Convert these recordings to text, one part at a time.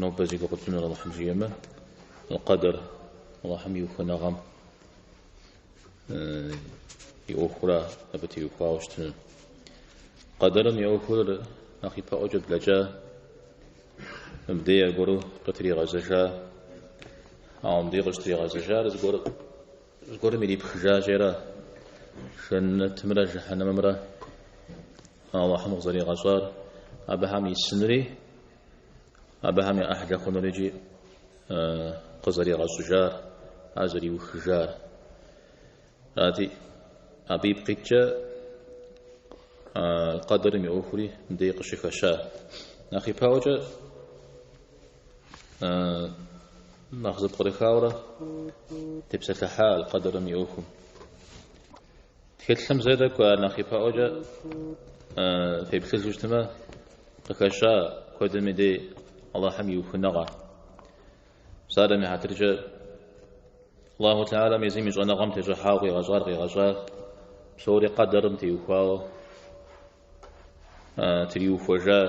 Нобэ зи гугъу тщӏынур Алыхьым жиӏэмэ, къэдэр Алыхьым и ухыныгъэм и ӏуэхура, абы теухуауэ щытыну. Къэдэрым и ӏуэхур нэхъ ипэӏуэкӏэ блэкӏа, мыбдей аргуэру къытригъэзэжа, ауэ мыбдей къыщытригъэзэжар зыгуэр зыгуэрым ирипхыжа щӏера, жэннэтымрэ жыхьэнэмымрэ Аллахьым къызэригъэщӏар абыхэм исынури абыхэм я ӏыхьлэ хъунурикӏи къызэригъэщӏыжар, ар зэриухыжар. Арати, абы ипкъ иткӏэ аль-къэдэрым и ӏуэхури мыбдеж къыщыхэща. Нэхъ ипэӏуэкӏэ нэхъ зэпкърыхауэрэ тепсэлъыхьа аль-къэдэрым и ӏуэхум. Тхылъым зэ тӏэкӏу ар нэхъ ипэӏуэкӏэ феплъыжу щытмэ, къыхэща куэдым и дей Аллахьым и ухыныгъэ. Псалъэм и хьэтыркӏэ Аллаху Теалэм езым и щӏэныгъэм тещӏыхьауэ къигъэщӏар къигъэщӏар псори къэдэрым теухуауэ триухуэжа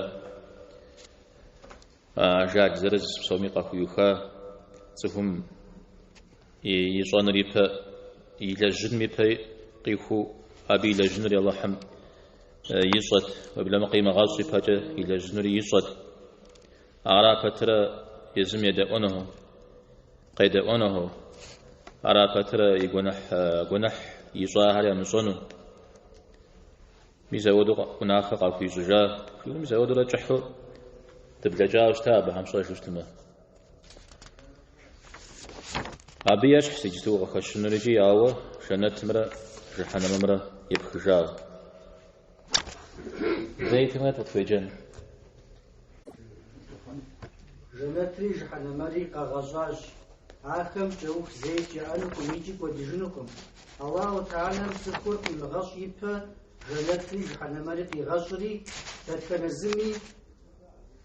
Ажал зырыз псоми къахуиуха цӏыхум ищӏэнур ипэ, и лэжьыным ипэ къихуэу, абы илэжьынури Аллахьым ищӏэт, уеблэмэ къимыгъэщӏ ипэкӏэ илэжьынури ищӏэт. Ара пэтрэ езым едэӏуэну, къедэӏуэну, ара пэтрэ и гуэныхь ищӏахэр ямыщӏэну. Мис ауэдэу гъунэхэр къахуищӏыжа? Жиӏэу мис ауэдэурэ кӏыхьу дыблэкӏауэ щыта абыхэм, фщӏэжу щытмэ. Абы ещхьщ иджыпсту къыхэщынурикӏи, ауэ жэнэтымрэ жыхьэнэмымрэ епхыжауэ. Зэи тымрэ къытхуеджэн. Жэнэтри жыхьэнэмэри къэгъэщӏащ. Ахэм кӏэух зэикӏ яӏэнукъым икӏи кӏуэдыжынукъым. Аллаху Теалэм цӏыхур къимыгъэщӏ ипэ жэнэтри жыхьэнэмэри къигъэщӏри, дэтхэнэ зыми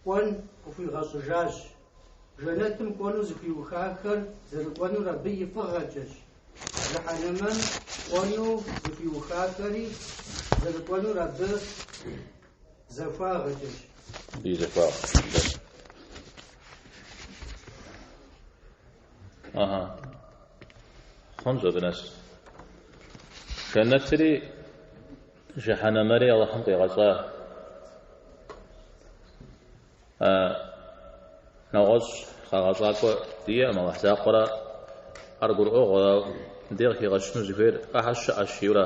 кӏуэн къыхуигъэщӏыжащ. Жэнэтым кӏуэну зыхуиухахэр зэрыкӏуэнур абы и фӏыгъэкӏэщ. Жыхьэнэмэм кӏуэну зыхуиухахэри зэрыкӏуэнур абы Захуагъэкӏэщ. Абы и захуагъэкӏэщ. Ага. Хъунщ абы нэс. Жэнэтри жыхьэнэмэри Аллахьым къигъэщӏа. Нэгъуэщӏ къагъэщӏакӏуэ диӏэкъым, Аллахь закъуэра, ар гурыӏуэгъуэ, дей къыхигъэщыну зыхуейр ахэр щыӏэщ жиӏэура.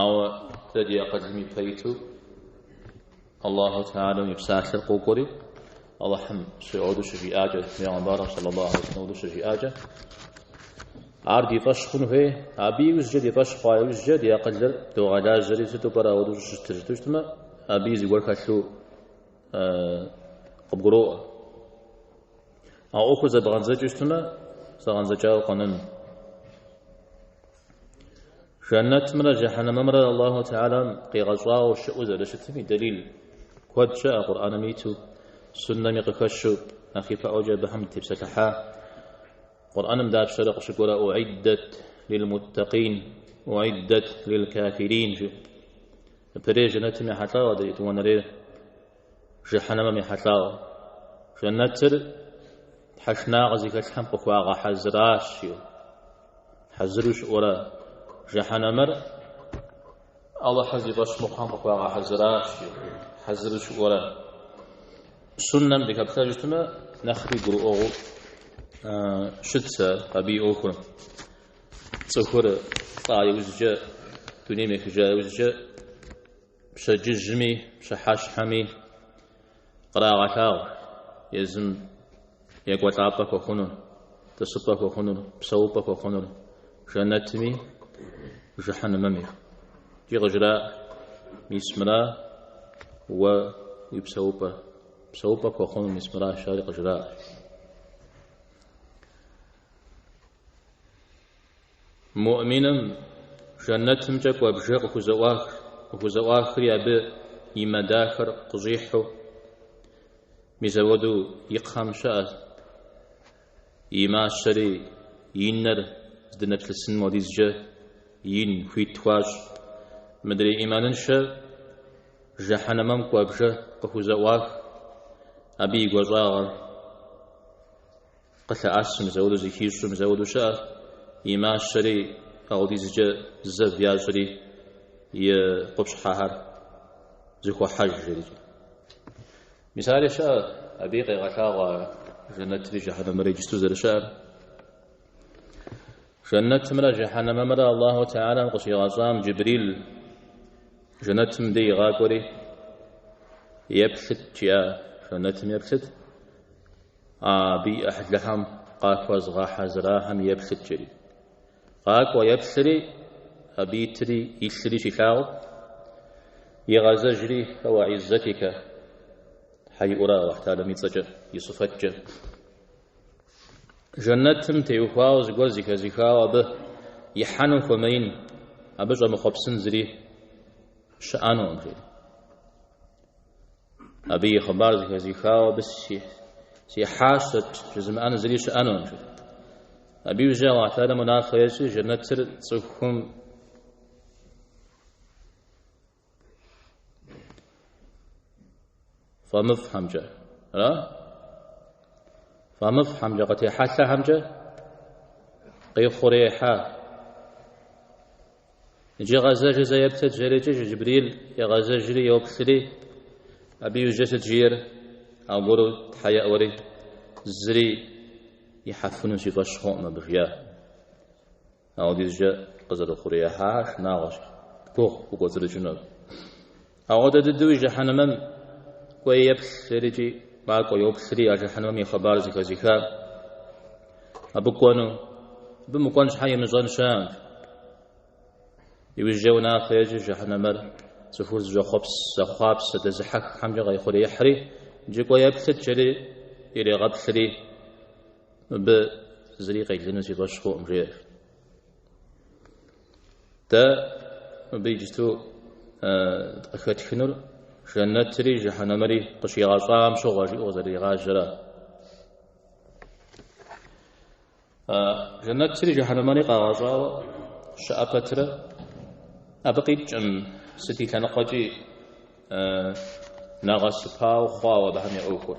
Ауэ дэ ди акъылым и пэ иту Аллаху Теалэм и псалъэр къокӏуэри, Аллахьым мизэуэду щыжиӏакӏэ, Пейгъэмбарым сэллаллаху алейхи уэсэлэм щыжиӏакӏэ, ар ди фӏэщ хъун хуей, абы иужькӏэ ди фӏэщ хъуа иужькӏэ ди акъылыр догъэлажьэри, сыту пӏэрэ ауэдэу щӏыщытыр жытӏэу щытмэ, абы и зыгуэр хэлъу къыбгуроӏуэ. А ӏуэхур зэбгъэдзэкӏыу щытмэ, зэгъэдзэкӏауэ къэнэну. Жэнэтмрэ жэхьэнэмэмрэ Аллаху Теалэм къигъэщӏауэ щыӏэу зэрыщытым и дэлил куэд щыӏэ Къурӏэным иту, Суннэми къыхэщу, нэхъ ипэӏуэкӏэ абыхэм дытепсэлъыхьа. Къурӏэным дапщэрэ къыщыкӏуэрэ Уӏиддэт лил-муттакъин, уӏиддэт лил-кафирин жиӏэу. Япэрей жэнэтым ехьэлӏауэ адэ етӏуанэрейр. Жыхьэнэмэм ехьэлӏауэ. Жэнэтыр тхьэшынагъэ зыхэлъхэм къыхуагъэхьэзыращи, хьэзыру щыӏэурэ. Жыхьэнэмэр Алыхьыр зи фӏэщ мыхъухэм къыхуагъэхьэзыращи, хьэзыру щыӏэурэ. Суннэм дыхэплъэу щытмэ, нэхъри гурыӏуэгъуэу щытщ абы и ӏуэхур. Цӏыхур лӏа иужькӏэ, дунейм ехыжа иужькӏэ, Пщэдджыжьми пщыхьэщхьэми кърагъэлъагъу езым екӏуэлӏапӏэ хуэхъунур, тӏысыпӏэ хуэхъунур, псэупӏэ хуэхъунур жэнэтми жыхьэнымэми. Икӏи къыжраӏ, мис мыра уэ уи псэупӏэр, псэупӏэ пхуэхъунур мис мыра жари къыжраӏ. Муӏминым Жэнэтымкӏэ кӏуэ бжэ къыхузэӏуах, къыхузэӏуахри абы и мэ дахэр къыщӏихьу мизэуэду и кхъэм щыӏэ, и мащэри и нэр здынэплъысыным хуэдизкӏэ ин хуит хуащӏ. Мыдрей ӏиманыншэ Жэхьэнэмэм кӏуэ бжэ къыхузэӏуах, абы и гуащӏагъэр. Къылъэӏэсу мизэуэду зыхищӏэу мизэуэду щыӏэ, и мащэри ауэдизкӏэ зэв ящӏри, и къупщхьэхэр зэхохьэж жери. Мисали щыӏэ, абыи къегъэлъагъуэ ар жэнэтри жэхьэнэмри иджысту зэрыщыӏэр. Жэнэтымрэ жэхьэнэмымрэ Аллаху Теалам къыщигъэщӏам Джибрил жэнэтым дей игъакӏуэри, еплъыт жиӏа жэнэтым еплъыт, Абы и ӏыхьлыхэм къахуэзгъэхьэзырахэм еплъыт жери, къакӏуэ еплъри, абы итри илъри щилъагъум, игъэзэжри, Уэ Иззэтикэ, Тхьэ иӏуэура Алыхьталэм и цӏэкӏэ, и сыфэткӏэ, Жэнэтым теухуауэ зыгуэр зыхэзыхауэ абы ихьэну хуэмеин, абы щӏэмыхъуэпсын зыри щыӏэнукъым, жери. Абы и хъыбар зэхэзихауэ абы сихьащэт жызымыӏэн зыри щыӏэнукъым. Абы иужькӏэ Алыхьталэм унафэ ещӏи жэнэтыр цӏыхум фӏэмыфӏхьэмкӏэ, ара? Фӏэмыфӏхьэмкӏэ, къытехьэлъэхьэмкӏэ къихъуреихьа? Иджы гъэзэжи зэ еплъыт, жерикӏи Джыбрил егъэзэжри йоплъри, абы иужькӏэ сыт жиӏэр? Аргуэру Тхьэ еӏуэри, зыри ихьэфыну си фӏэщ хъуӏым абы, жиӏэ. Ауэдизкӏэ къызэрыхъуреихьар шынагъуэщ, гугъу укӏуэцӏрыкӏынур. Ауэдэ дыдэуи жыхьэнэмэм кӏуэи еплъ, жерикӏи макӏуэ йоплъри а жыхьэнэмэм и хъыбар зыхэзыхар абы кӏуэну, абы мыкӏуэн щхьэ имыщӏэн щыӏэкъым. Иужькӏэ унафэ ещӏ жыхьэнэмэр цӏыхур зыщӏэхъуэпс, зэхъуапсэ, дэзыхьэххьэмкӏэ къехъуреихьри, иджы кӏуэ еплъыт жери ирегъэплъри, мыбы зыри къелыну си фӏэщ хъуӏым, жеӏэ. Дэ мыбы иджыту къыхэтхынур жэнэтри жыхьэнэмри къыщигъэщӏам щыгъуэ жиӏэу къызэрыригъажьэра. Жэнэтри жыхьэнэмри къагъэщӏауэ щыӏэ пэтрэ абы къикӏкъым сыт и лъэныкъуэкӏи нэгъэсыпау хъуауэ абыхэм я ӏуэхур.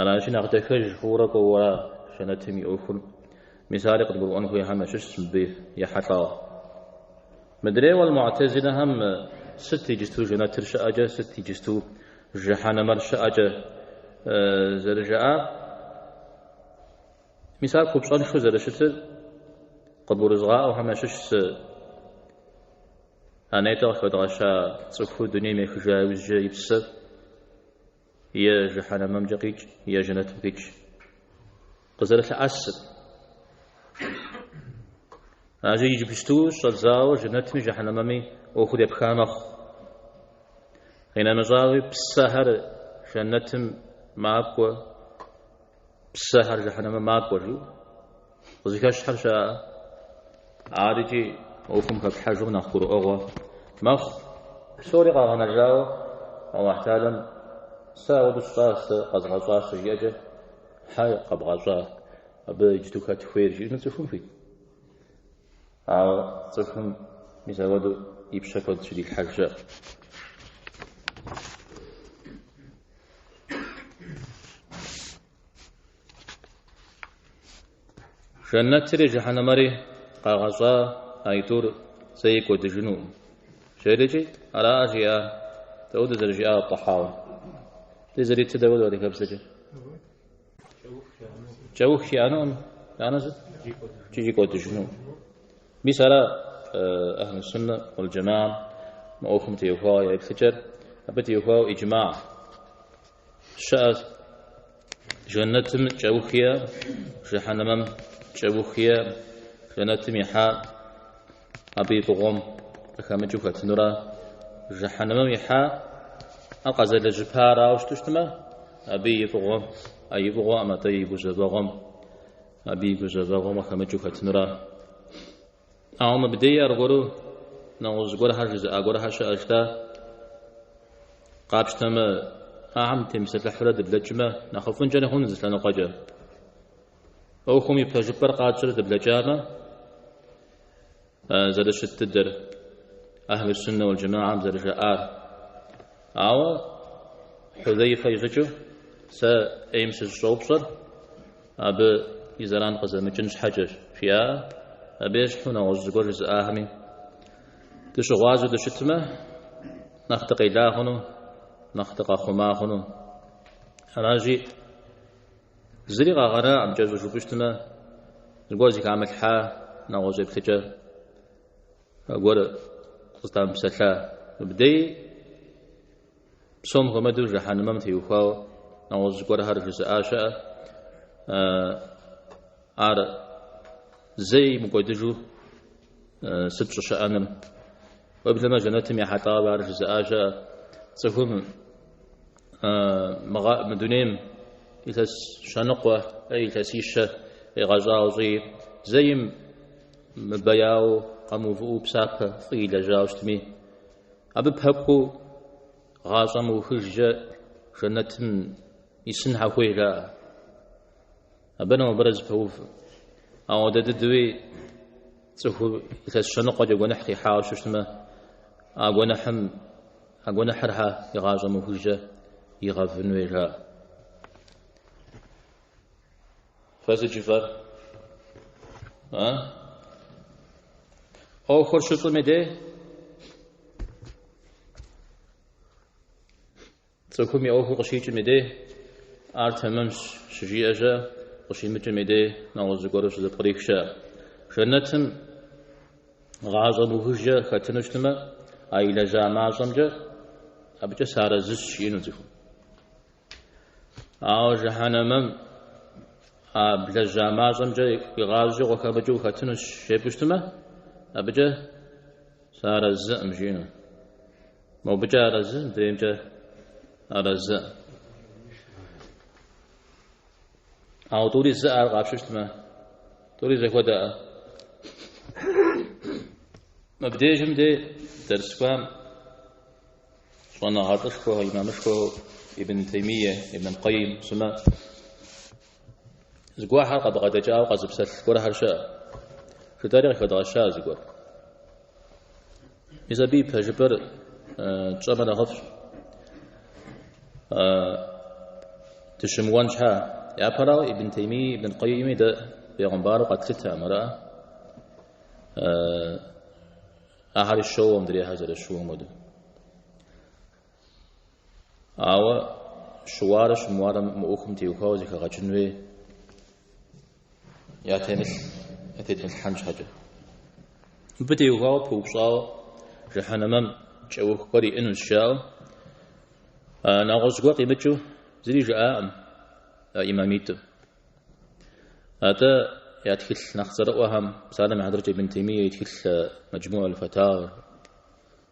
Аращи, нэхъ дахэж хъуурэ кӏуэуэра Жэнэтым и ӏуэхур? Мис ари къыдгурыӏуэн хуейхэм ящыщщ мыбы ехьэлӏауэ. Мыдрейуэ а Муътазилэхэм сыт иджысту Жэнэтыр щыӏэкӏэ, сыт иджысту Жыхьэнэмэр щыӏэкӏэ зэрыжаӏар, мис ар купщӏэншэу зэрыщытыр къыдгурызгъаӏуэхэм ящыщщ. А нетӏэ къыхэдгъэща цӏыхур дунейм ехыжа иужькӏэ и псэр е жыхьэнэмэмкӏэ къикӏ, е жэнэтым къикӏ къызэрылъэӏэсыр. Аращи иджыпсту щӏэдзауэ жэнэтми жыхьэнэмэми ӏуэхур епха мэхъу. Къинэмыщӏауи псэхэр жэнэтым макӏуэ, Псэхэр жыхьэнэмэ макӏуэ, жиӏэу къызыхэщхэр щыӏэ. Ар икӏи ӏуэхум хэплъхьэжым нэхъ гурыӏуэгъуэ мэхъу. Псори къагъэнэжауэ Алахь Теалэм Сэ ауэду сщӏа, сэ къэзгъэщӏащ щыжиӏэкӏэ, Хьэ къэбгъэщӏа, абы иджыту хэт хуейр жиӏэну цӏыхум хуит? Ауэ цӏыхум мис ауэду и пщэ куэд щыдилъхьэж щыӏэт. Жэнэтри жыхьэнэмэри къагъэщӏа аитӏур зэи кӏуэдыжынукъым. Жэрикӏи ара жиӏа дауэду зэрыжиӏа атӏ-Тӏэхьауи. Ди зэритыр дауэду адыгэбзэкӏэ? Кӏэух иӏэнукъым. Анэ сыт? Икӏи кӏуэдыжынукъым. Мис ара Ахьлы Суннэ уал Джамаам мы ӏуэхум теухуауэ я еплъыкӏэр? Абы теухуауэ иджмаа щыӏэщ, Джэннэтым кӏэух иӏэ, Жэхьэнэмэм кӏэух иӏэ, Джэннэтым ихьа абы и фӏыгъуэм къыхэмыкӏыу хэтынура, Жэхьэнэмэм ихьа а къэзэлэжьыпарауэ щыту щытмэ, абы и фӏыгъуэм, ӏэ и фӏыгъуэӏым, атӏэ и гузэвэгъуэм. Абы и гузэвэгъуэм къыхэмыкӏыу хэтынура? Ауэ мыбдеи аргуэру нэгъуэщӏ гуэрхэр жызыӏа гуэрхэр щыӏэщ дэ. Къапщтэмэ, Ахэм темыпсэлъыхьурэ дыблэкӏмэ, нэхъыфӏынкӏэри хъунут зы лъэныкъуэкӏэ. ӏуэхум и пэжыпӏэр къатщӏэрэ дыблэкӏамэ, зэрыщыт дыдэр Ахьлы Суннэ уал Джамаам зэрыжаӏар. Ауэ Хьузэйфэ и щӏыкӏэу сэ ӏейм сыщӏыщӏэупщӏэр абы и зэран къызэмыкӏын щхьэкӏэщ, жиӏа абы ещхьу нэгъуэщӏ зыгуэр жызыӏахэми дыщыгъуазэу дыщытмэ, нэхъ дыкъела хъуну, нэхъ дыкъэхъума хъуну. Аращи, Зыри къагъэнакъым, кӏэщӏу жыпӏущтмэ, зыгуэр зыхамылъхьа нэгъуэщӏ еплъыкӏэ гуэр къызытамыпсэлъа мыбдеи, псом хуэмэдэу жэхьэнымэм теухуауэ нэгъуэщӏ зыгуэрхэр жызыӏа щыӏэ, ар зэ имыкӏуэдыжу сыт щӏыщыӏэныр? Уеблэмэ жэнэтым ехьэлӏауэ ар жызыӏа щыӏэ, цӏыхум Мы дунейм илъэс щэныкъуэ, илъэсищэ къигъэщӏауэ щӏи, зэим мыбэяуэ къэмыувыӏэу псапэ фӏы илэжьауэ щытми, абы пэкӏуэу гъащӏэ мыухыжкӏэ жэнэтым исын хьэ хуей жаӏэ. Абырэ мобырэ зэпэув. Ауэдэ дыдуи цӏыху илъэс щэныкъуэкӏэ гуэныхь къихьауэ щыщытмэ, а гуэныхьым А гуэныхьыр хьэ игъащӏэ мыухыжкӏэ игъэвын хуей жаӏэ. Фэ сыт жыфӏэр? А? ӏуэхур щыщӏым и дей цӏыхум и ӏуэхур къыщикӏым и дей ар тэмэмщ щыжиӏэ щыӏэ, къыщимыкӏым и дей нэгъуэщӏ зыгуэру щызэпкърих щыӏэ. Жэнэтым Гъащӏэ мыухыжкӏэ хэтыну щытымэ, а илэжьа мащӏэмкӏэ абыкӏэ сыарэзыщ жиӏэну цӏыхум. Ауэ жыхьэнэмэм а блэжьа мащӏэмкӏэ игъащӏэкӏэ укъыхэмыкӏыу ухэтынущ жепӏэу щытымэ, абыкӏэ сыарэзыӏым жиӏэну. Мобыкӏэ арэзы, мыдреймкӏэ арэзыӏым. Ауэ тӏури зыӏэ ар къапщтэмэ, тӏури зэхуэдэӏэ? Мыбдежым дей дэрсхуам щӏэныгъэлӏышхуэ, имамышхуэ Ибн Теймие, Ибн Кайим сымэ зыгуэхьэр къабгъэдэкӏауэ къэзыпсэлъ гуэрхэр щыӏэ. Жытӏэри къыхэдгъэщаӏэ зыгуэр. Мис абы и пэжыпӏэр тщӏэмэ нэхъыфӏщ. Дыщымыуэн щхьа? Япэрауэ Ибн Тейми, Ибн аль-Къейми дэ пегъымбару къэтлъытэ мыра? Ахэри щоуэ мыдрейхьэр зэрыщыуэм хуэдэу. Ауэ щыуарэ щымыуарэ мы ӏуэхум теухуауэ зэхэгъэкӏын хуей. Ятемылъ ятетмылъхьэн щхьэкӏэ. Мыбы теухуауэ пыупщӏауэ жыхьэнэмэм кӏэух гуэр иӏэнущ жаӏэу нэгъуэщӏ гуэр къимыкӏыу зыри жаӏакъым имамитӏым. Атӏэ я тхылъ нэхъ цӏэрыӏуэхэм, псалъэм и хьэтыркӏэ Ибн Теймие и тхылъ Мэджмуӏ аль-Фатауэр,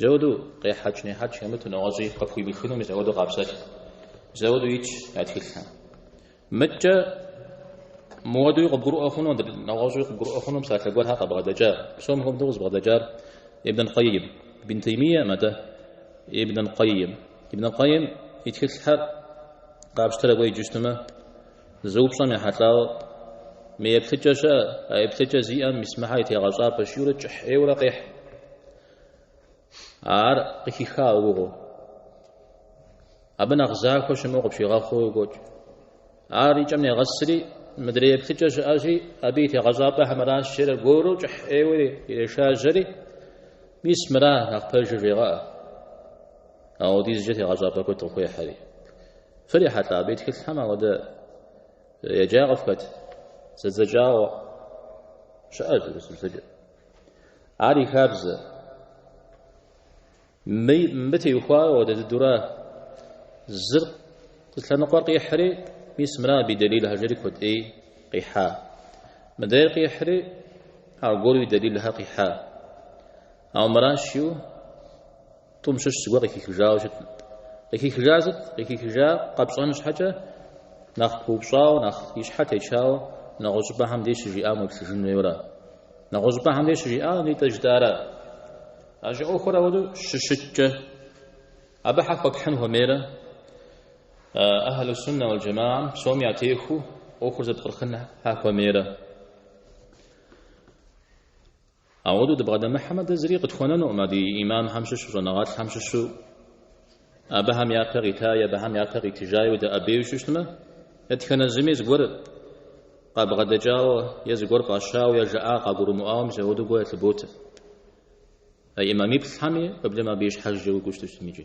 Зэуэду къехьэкӏ нехьэкӏ хэмыту нэгъуэщӏи къыпхуимыхыну мис ауэду къапсэлъ. Зэуэду итщ я тхылъхэм. Атӏэ муэдуи къыбгурыӏуэ хъуну, нэгъуэщӏи къыбгурыӏуэ хъуну псалъэ гуэрхэр къабгъэдэкӏа, псом хуэдэу къызыбгъэдэкӏар Ибн аль-Къейм, Ибн Теймием атӏэ, Ибн аль-Къейм. Ибн аль-Къейм и тхылъхэр къапщтэрэ уеджэу щытмэ, Зы упщӏэм ехьэлӏауэ, мы еплъыкӏэ щыӏэ, а еплъыкӏэ зиӏэм мис мыхьэр и тегъэщӏапӏэщ жиӏэурэ кӏыхь ӏейуэрэ къехь. Ар къыхихауэ угугъэу. Абы нэхъ захуэ щымыӏэу къыпщигъэхъуу къокӏуэкӏ. Ар и кӏэм негъэсри, мыдрей еплъыкӏэ щыӏэщи, абы и тегъэщӏапӏэхэр мыращ жери аргуэру кӏыхь ӏейуэ ирешажьэри, мис мыра нэхъ пэжыр жегъэӏэ. Ауэдизкӏэ тегъэщӏапӏэ куэд къыхуехьри. Фырихьэлӏа абы и тхылъхэм ауэдэ еджа къыфхэт зэдзэкӏауэ щыӏэщ Урысыбзэкӏэ. Ар и хабзэ. Мыбы теухуауэ ауэдэ дыдура зыр зы лъэныкъуэр къихьри, мис мыра абы и дэлилхэ жери куэд ӏей къихьа. Мыдейр къихьри, аргуэру и дэлилхэр къихьа. Ауэ мыращи тӏум щыщ зыгуэр къыхихыжауэ щыт. Къыхихыжар сыт? Къыхихыжар къэпщӏэн щхьэкӏэ нэхъ пыупщӏауэ, нэхъ и щхьэ течауэ нэгъуэщӏ щӏыпӏэхэм деж щыжиӏам уеплъыжын хуейуэра? Нэгъуэщӏ щӏыпӏэхэм деж щыжиӏам абы итӏэ жытӏара? Иджы ӏуэхур ауэду щыщыткӏэ, абы хьэ хуэпхьын хуэмейрэ? Ахьлу-суннэ уал джэмагьэм псоми ятехуэу ӏуэхур зэпкърыхын хьэ хуэмейрэ? Ауэдэу дыбгъэдэмыхьэмэ, дэ зыри къытхуэнэнукъым а ди имамхэм щыщу, щӏэныгъэлӏхэм щыщу, абыхэм япэ къитаи, абыхэм япэ къитыжаи удэӏэбею щыщтмэ, дэтхэнэ зыми зыгуэр къабгъэдэкӏауэ е зыгуэр пӏэщауэ е жаӏа къагурымыӏуауэ мис ауэдэу гуэ ялъыботэ. А имамиплӏхэми уеблэмэ абы и щхьэкӏэ уигу ущтыщтым иджы.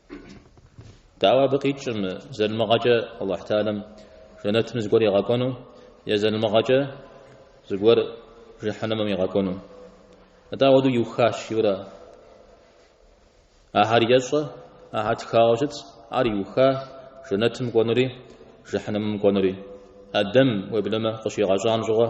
Дауэ абы къикӏым залымыгъэкӏэ Аллахь Таалам жэнэтым зыгуэр игъэкӏуэну, е залымыгъэкӏэ зыгуэр жыхьэнэмэм игъэкӏуэну. Атӏэ ауэдэу иухащ, иурэ. Ахэр ещӏэ, ахэр тхауэ щытщ, ар иуха жэнэтым кӏуэнури, жыхьэнэмэм кӏуэнури. Адэм, уеблэмэ, къыщигъэщӏам щыгъуэ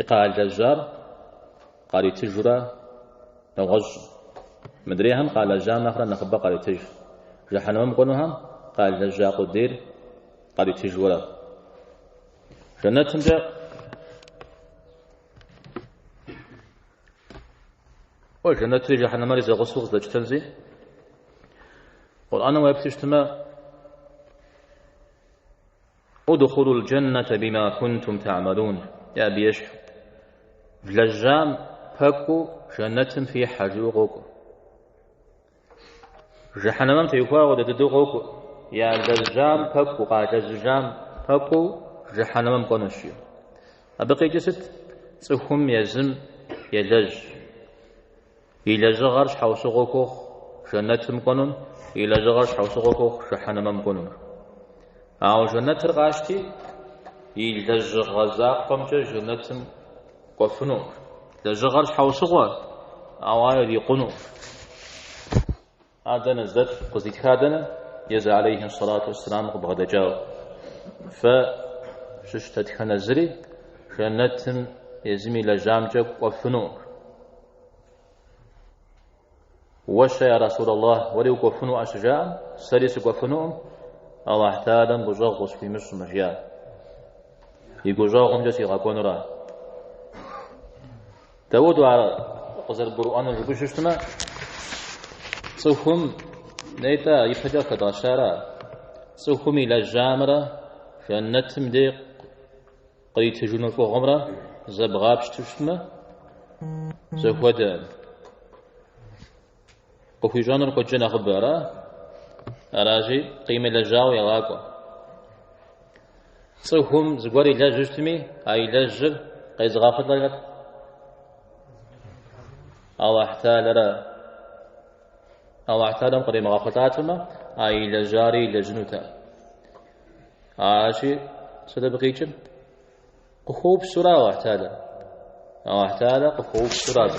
И къалэжьар къаритыжурэ нэгъуэщӏ. Мыдрейхэм къалэжьам нэхърэ нэхъыбэ къаритыж. Жэхьэнэмым кӏуэнухэм къалэжьа къудейр къаритыжурэ. Жэнэтымкӏэ Уэ жэнэтри жэхьэнэмэри зэгъусэу къыздэтщтэнщи, Къурӏаным уеплъыщтмэ, Удхулу ль-джэннэтэ бима кунтум тагьмэлун, е абы ещхьу, Влэжьам пэкӏуу жэнэтым фихьэ, жиӏэу къокӏуэ. Жыхьэнэмэм теухуауэ ауэдэ дыдэу къокӏуэ, ялэжьам пэкӏуу, къалэжьыжам пэкӏуу жыхьэнэмэм кӏуэнущ, жиӏэу. Абы къикӏи сыт? Цӏыхум езым елэжь. И лэжьыгъэр щхьэусыгъуэ хуохъу жэнэтым кӏуэнун, и лэжьыгъэр щхьэусыгъуэ хуохъу жыхьэнэмэм кӏуэнун. Ауэ жэнэтыр къащти, и лэжьыгъэ закъуэмкӏэ жэнэтым кӏуэфыну. Лэжьыгъэр щхьэусыгъуэ, ауэ ар ирикъуну. Ар дэнэ здэт, къыздитха дэнэ? Езы алейхи сэлату уэсселам къыбгъэдэкӏауэ. Фэ щыщ дэтхэнэ зыри жэнэтым езым илэжьамкӏэ кӏуэфынукъым. Уэ-щэ, я Расулаллахь, уэри укӏуэфынуӏэ щыжаӏэм, сэри сыкӏуэфынукъым, Аллахь Тхьэлэм гущӏэгъу къысхуимыщӏмэ, жиӏат. И гущӏэгъумкӏэ сигъэкӏуэнура. Даудо ар къызэрыбгурыӏуэнур жыпӏэу щыщтмэ, цӏыхум нетӏэ ипэкӏэ къыхэдгъэщара. Цӏыхум илэжьамрэ жэнэтым дей къритыжыну фӏыгъуэмрэ зэбгъапщту щытмэ, зэхуэдэ. Къыхуищӏэнур куэдкӏэ нэхъыбэра. Аращи, къимылэжьауэ егъакӏуэ. Цӏыхум зыгуэр илэжьу щытми, а илэжьыр къезыгъэхъулӏэр хэт? Аллахь Тхьэлэра. Аллахь Тхьэлэм къримыгъэхъулӏатэмэ, а илэжьари илэжьынута. Аращи, сыт абы къикӏыр? Къыхуэупсэура Аллахь Тхьэлэр. Аллахь Тхьэлэ къыхуэупсэура абы.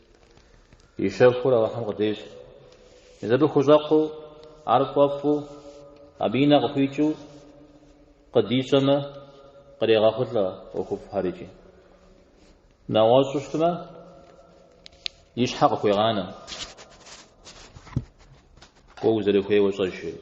И щэхур Алыхьым къыдещӏэ. Езы абы хущӏэкъуу, ар фӏэфӏу, абы и нэ къыхуикӏыу къыдищӏэмэ, кърегъэхъулӏэ ӏуэхуфӏхэр икӏи. Нэгъуэщӏу щытмэ, и щхьэ къыхуегъанэ. Кӏуэ узэрыхуейуэ щӏэ, жери.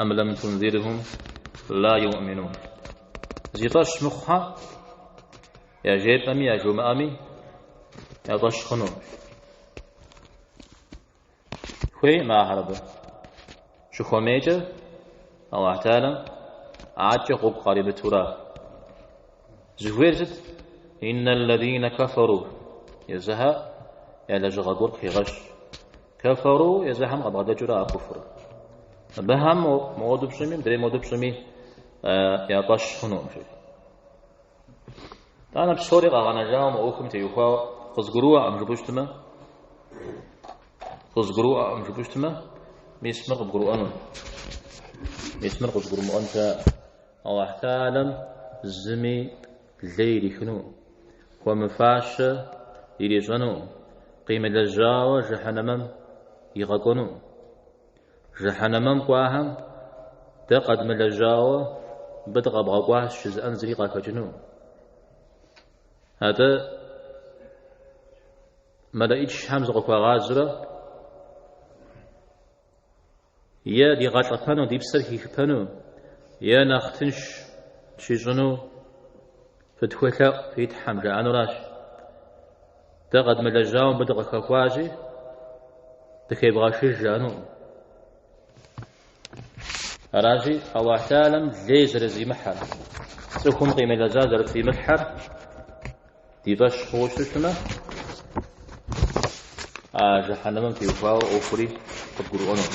Ам лам тунзирхум ла йоуминун. Зи фӏэщ мыхъухьэ, яжепӏэми яжумыӏэми, я фӏэщ хъуну. Хуейкъым ахэр абы. Щыхуэмейкӏэ, Аллахь Тхьэлэм адэкӏэ гъуэгу къаримытура. Зыхуейр сыт? Иннал лазина кафару. Езыхьэ я лэжьыгъэ гуэр къыхегъэщ. Кэфэру езыхэм къабгъэдэкӏыу ара куфр. Абыхэм моду пщӏыми, мыдрей моду пщӏыми я фӏэщ хъунукъым, жи. Итӏанэ псори къэгъэнэжауэ мы ӏуэхум теухуауэ къызгурыӏуэкъым жыпӏэу щытмэ, къызгурыӏуэкъым жыпӏэу щытмэ, мис мыр къыбгурыӏуэну. Мис мыр къызгурымыӏуэн щыӏэ. Аллахь Тхьэлэм зыми Лей ирихыну, хуэмыфащэ ирищӏэну, къимылэжьауэ жыхьэнэмэм игъэкӏуэну. Жыхьэнэмэм кӏуахэм дэ къэдмылэжьауэ мыбы дыкъэбгъэкӏуащ жызыӏэн зыри къахэкӏыну. Атӏэ мэлэӏичхьэм зыкъыхуагъазурэ Е дигъэлӏэпэну, ди псэр хихыпэну, е нэхъ тынш щищӏыну фытхуелъэӏу фи Тхьэм, жаӏэнуращ. Дэ къэдмылэжьауэ мыбы дыкъыхэхуащи, дыхебгъэшыж жаӏэнукъым. Аращи, Аллахь Теалэм лей зэрызимыхьэр, цӏыхум къимылэжьа зэрытримылъхьэр, Ди фӏэщ хъууэ щытмэ, а жэхьэнэмым теухуауэ ӏуэхури къыдгурыӏуэнущ.